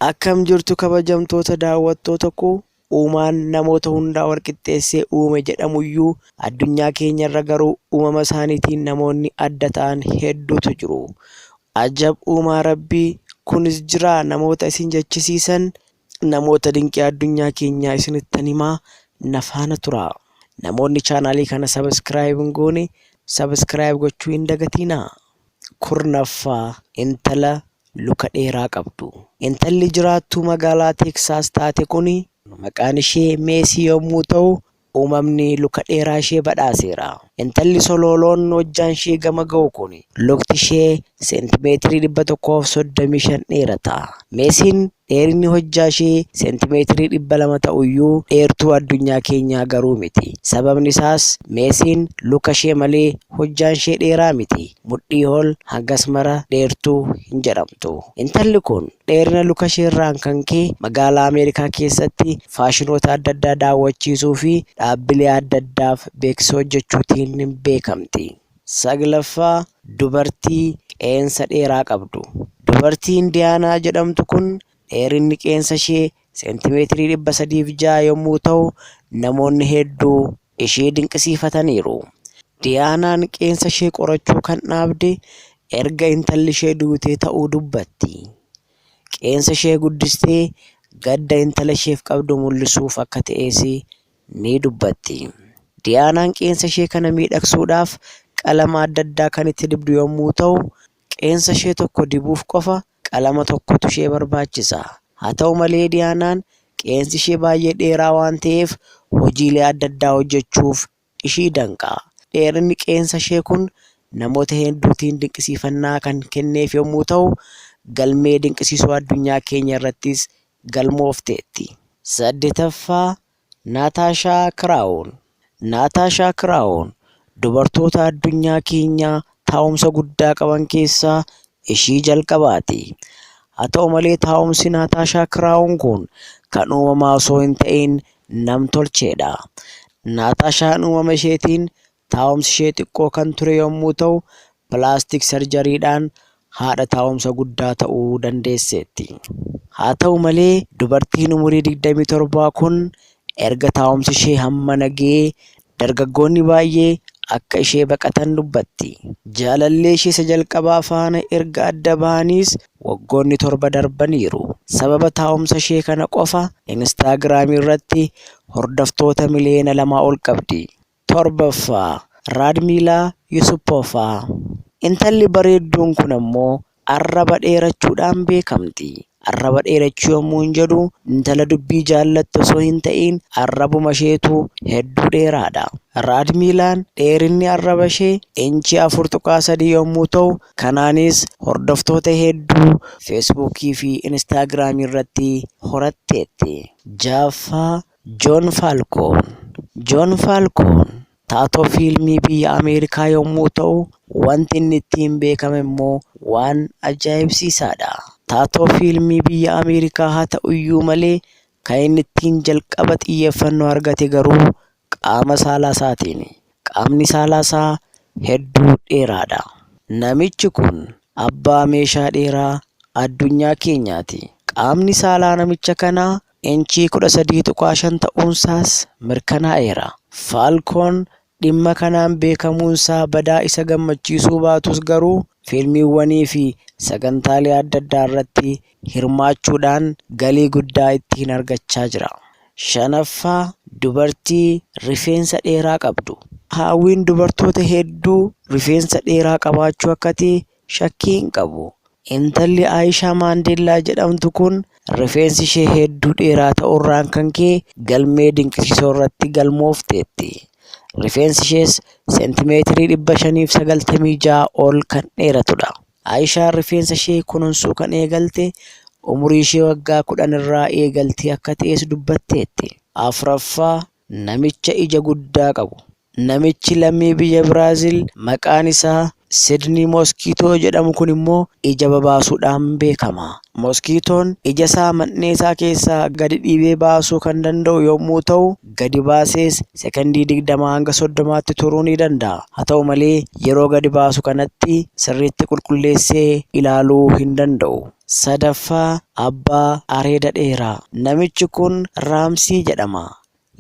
Akkam jirtu kabajamtoota daawwattoota koo uumaan namoota hundaa walqixxeessee uume jedhamuyyuu addunyaa keenyarra garuu uumama isaaniitiin namoonni adda ta'an hedduutu jiru. Ajab uumaa rabbii kunis jira namoota isin jechisiisan Namoota dinqii addunyaa keenyaa isinittan himaa na faana turaa. Namoonni chaanaalii kana sabiskiraayib hin goone sabiskiraayib gochuu hin dagatiinaa. Kurnaffaa intala luka dheeraa qabdu. Intalli jiraattuu magaalaa Teeksaas taate kun maqaan ishee Meesii yommuu ta'u Uumamni luka dheeraa ishee badhaaseera. Intalli solooloon hojjaan ishee gama ga'u kun lukti ishee seentimeetirii 135 dheerata. Meesiin dheerinni hojjaa ishee seentimeetirii 200 ta'uyyuu dheertuu addunyaa keenyaa garuu miti. Sababni isaas Meesiin luka ishee malee hojjaan ishee dheeraa miti. Mudhii ol hangas mara dheertuu hin jedhamtu. Intalli kun dheerina lukasheerraan kan ka'e magaalaa Ameerikaa keessatti faashinoota adda addaa daawwachiisuufi dhaabbilee adda addaaf beeksisa hojjechuutiin beekamti. Saglaffaa, Dubartii qeensa dheeraa qabdu. Dubartii Indiyaanaa jedhamtu kun dheerinni qeensa ishee seentimeetirii 306 yommuu ta'u, namoonni hedduu ishee dinqisiifataniiru. Diyaanaan qeensa ishee qorachuu kan dhaabde erga intalli ishee duutee ta'uu dubbatti. Qeensa ishee guddistee gadda intala isheef qabdu mul'isuuf akka ta'es ni dubbatti. Diyaanaan qeensa ishee kana miidhagsuudhaaf qalama adda addaa kan itti dibdu yommuu ta'u, qeensa ishee tokko dibuuf qofa Qalama tokkotu ishee barbaachisa. Haa ta'u malee Diyaanaan qeensi ishee baay'ee dheeraa waan ta'eef hojiilee adda addaa hojjechuuf ishii danqa. Dheerinni qeensa ishee kun namoota hedduutiin dinqisiifannaa kan kenneef yommuu ta'u, galmee dinqisiisoo addunyaa keenya irrattis galmoofteetti. 8ffaa, Naatashaa Kiraawun Naatashaa Kiraawun dubartoota addunyaa keenyaa taa'umsa guddaa qaban keessaa ishii jalqabaati. Haa ta'u malee taa'umsi Naatashaa Kiraawun kun kan uumamaa osoo hin ta'iin nam-tolcheedha. Naatashaan uumama isheetiin Taa'umsi ishee xiqqoo kan ture yommuu ta'u, pilaastik sarjariidhaan haadha taa'umsa guddaa ta'uu dandeesseetti. Haa ta'u malee, dubartiin umurii 27 kun erga taa'umsi ishee hammana ga'ee dargaggoonni baay'ee akka ishee baqatan dubbatti. Jaalallee ishee isa jalqabaa faana erga adda bahaniis waggoonni torba darbaniiru. Sababa taa'umsa ishee kana qofa Instaagiraamii irratti hordoftoota miliyoona lamaa ol qabdi. 7ffaa, Raadmiilaa Yusupoova. Intalli bareedduun kun ammoo arraba dheerachuudhaan beekamti. Arraba dheerachuu yommuun jedhu intala dubbii jaallattu osoo hin ta'iin arrabumasheetu hedduu dheeraadha. Raadmiilaan dheerinni arrabashee inchii 4.3 yommuu ta'u, kanaanis hordoftoota hedduu Feesbuukii fi Inistaagiraamii irratti horatteetti. 6ffaa, Joon Faalkoon Joon Faalkoon taatoo fiilmii biyya Ameerikaa yommuu ta'u, wanti inni ittiin beekame immoo waan ajaa'ibsiisaa dha. Taatoo fiilmii biyya Ameerikaa haa ta'u iyyuu malee, kan inni ittiin jalqaba xiyyeeffannoo argate garuu qaama saalaa isaatiini. Qaamni saalaa isaa hedduu dheeraa dha. Namichi kun abbaa meeshaa dheeraa addunyaa keenyaa ti. Qaamni saalaa namicha kanaa inchii 13.5 ta'uunsaas mirkanaa'eera. Faalkoon dhimma kanaan beekamuunsaa badaa isa gammachiisuu baatus garuu fiilmiiwwaniifi sagantaalee adda addaarratti hirmaachuudhaan galii guddaa ittiin argachaa jira. 5ffaa Dubartii rifeensa dheeraa qabdu. Haawwiin dubartoota hedduu rifeensa dheeraa qabaachuu akka ta'e Shakkii hin qabu, intalli Aayishaa Maandeellaa jedhamtu kun rifeensi ishee hedduu dheeraa ta'uurraan kan ka'e galmee dinqisiisoo irratti galmoofteetti. Rifeensi ishees seentimeetirii 596 ol kan dheeratudha. Aayishaan rifeensa ishee kununsuu kan eegalte umurii ishee waggaa 10 irraa eegaltee akka ta'es dubbatteetti. 4ffaa Namicha ija guddaa qabu. Namichi lammii biyya Biraazil maqaan isaa Sidnii Moskiitoo jedhamu kun immoo ija babaasuudhaan beekama. Moskiitoon ija isaa man'ee isaa keessaa gadi dhiibee baasuu kan danda'u yommuu ta'u, gadi baasees sekondii 20 hanga 30tti turuu ni danda'a. Haa ta'u malee yeroo gadi baasu kanatti sirriitti qulqulleessee ilaaluu hin danda'u. Sadaffaa, Abbaa Areeda Dheeraa. Namichi kun Raamsii jedhama.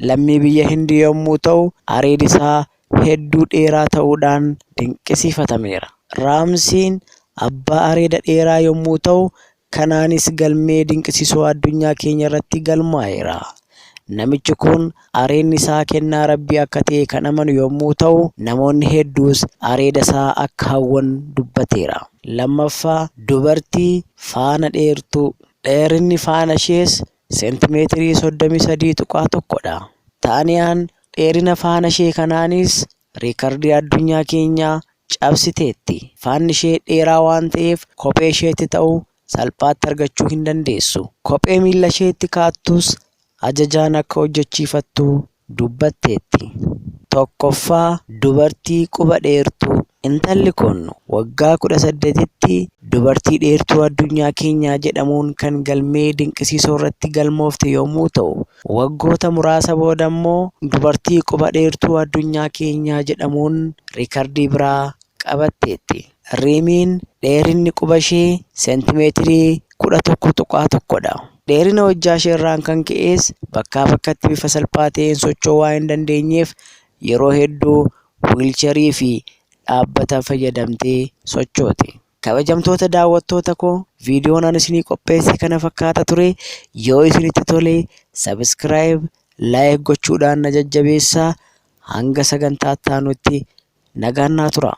Lammii biyya Hindii yommuu ta'u, areedi isaa hedduu dheeraa ta'uudhaan dinqisiifatameera. Raamsiin abbaa areeda dheeraa yommuu ta'u, kanaanis galmee dinqisiisoo addunyaa keenya irratti galmaa'eera. Namichi kun areedni isaa kennaa Rabbii akka ta'e kan amanu yommuu ta'u, namoonni hedduus areeda isaa akka hawwan dubbateera. Lammaffaa, dubartii faana dheertuu. Dheerinni faana ishees seentimeetirii 33.1 dha. Taaniyaan dheerina faana ishee kanaanis riikardii addunyaa keenyaa cabsiteetti. Faanni ishee dheeraa waan ta'eef kophee isheetti ta'u salphaatti argachuu hin dandeessu. Kophee miilla isheetti kaa'attus ajajaan akka hojjechiifattu dubbatteetti. Tokkoffaa, dubartii quba dheertuu. Intalli kun waggaa 18tti dubartii dheertuu addunyaa keenyaa jedhamuun kan galmee dinqisiisoo irratti galmoofte yommuu ta'u, waggoota muraasa booda immoo dubartii quba dheertuu addunyaa keenyaa jedhamuun riikardii biraa qabatteetti. Riimiin dheerinni quba ishee seentimeetirii 11.1 dha. Dheerina hojjaa ishee irraan kan ka'es bakkaa bakkatti bifa salphaa ta'een socho'uu waan hin dandeenyeef yeroo hedduu wiilcharii fi dhaabbata fayyadamtee sochooti. Kabajamtoota daawwattoota koo viidiyoon ani isinii qopheesse kana fakkaata ture. Yoo isinitti tole sabiskiraayib, laayik gochuudhaan na jajjabeessaa. Hanga sagantaa itti aanutti Nagaan naa turaa.